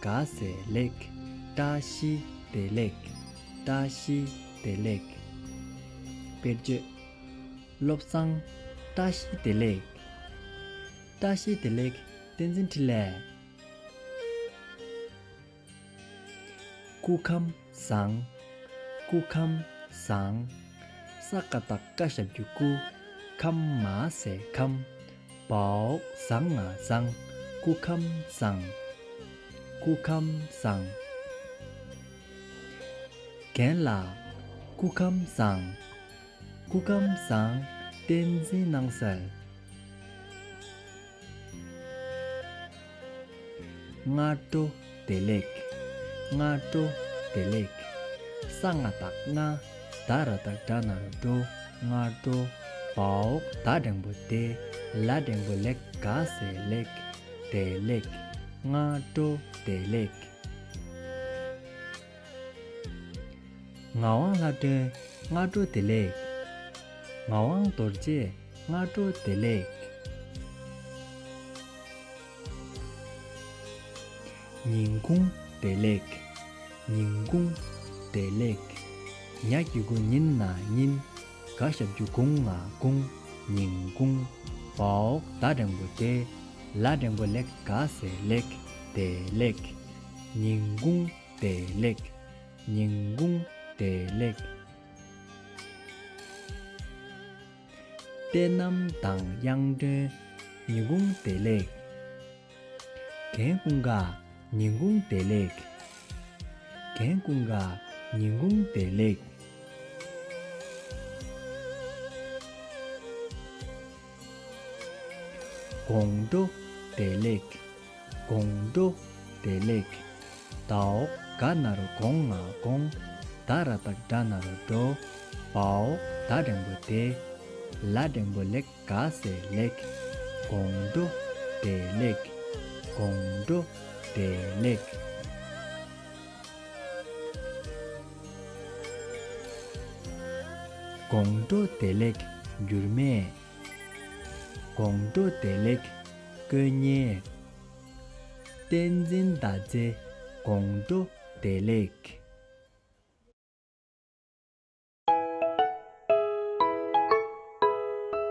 དགའ་བསེ་ལེགས། བཀྲ་ཤིས་བདེ་ལེགས། བཀྲ་ཤིས་བདེ་ལེགས། དཔེར་བརྗོད། བློ་བཟང། བཀྲ་ཤིས་བདེ་ལེགས། བཀྲ་ཤིས་བདེ་ལེགས། བསྟན་འཛིན་འཕྲིན་ལས། སྐུ་ཁམས། བཟང། སྐུ་ཁམས་བཟང། ས་ཀ་རྟ་བཀའ་ཤག་རྒྱུད་སྐུ་ཁམས་མ་ཟས་ཁམས་བོགས་བཟང་ང་བཟང་སྐུ་ཁམས་བཟང། སྐུ་ཁམས་བཟང། རྒན་ལགས། སྐུ་ཁམས་བཟང། སྐུ་ཁམས་བཟང་བསྟན་འཛིན་སྣང་གསལ། སྔ་དྲོ་བདེ་ལེགས། སྔ་དྲོ་བདེ་ལེགས། ས་ལྔ་དག་ན་ད་ར་དག་སྒྲ་ན་རུ་འགྲོ་སྔ་དྲོ་བའོ་ད་འགྲེང་བུ་བདེ་ལ་འགྲེང་བུ་ལེགས་དགའ་སེ་ལེགས་བདེ་ལེགས། སྔ་དྲོ་བདེ་ལེགས། ངག་དབང་ལྷ་སྒྲོན་སྔ་དྲོ་བདེ་ལེགས། ངག་དབང་རྡོ་རྗེ་སྔ་དྲོ་བདེ་ལེགས། ཉིན་གུང་བདེ་ལེགས། ཉིན་གུང་བདེ་ལེགས། ཉག་གི་གུང་ཉིན་ན་ཉིན། དགའ་ཞབས་རྒྱུ་གུང་ང་གུང་ཉིན་གུང། བོག་ཟླ་འགྲེང་བུ་བདེ། ལ་འགྲེང་བུ་ལེགས་དགའ་ཟས་ལེགས་བདེ་ལེགས། ཉིན་གུང། བདེ་ལེགས། ཉིན་གུང་བདེ་ལེགས། དཔལ་གནམ་མདངས་དབྱངས་སྒྲོན་ཉིན་གུང་བདེ་ལེགས། རྒན་ཀུན་དགའ་ཉིན་གུང་བདེ་ལེགས། རྒན་ཀུན་དགའ་ཉིན་གུང་བདེ་ལེགས། དགོང་དྲོ་བདེ་ལེགས། དགོངས། འགྲོ་བདེ་ལེགས། བཟླའོ། དགའ་ན་རུ་དགོངས་ང་དགོངས། བདག་ར་བདག་འདྲ་ན་རུ་འགྲོ། བའོ། བདག་འགྲེང་བུ་བདེ། ལ་འགྲེང་བུ་ལེགས་དགའ་སེ་ལེགས། དགོངས། འགྲོ་བདེ་ལེགས། དགོངས། འགྲོ་བདེ་ལེགས། དགོངས། འགྲོ་བདེ་ལེགས། འགྱུར་མེད། དགོངས་མདོ་བདེ་ལེགས་དཀོན་བརྙན། བསྟན་འཛིན་ཟླ་མཛེས་དགོངས་མདོ་བདེ་ལེགས།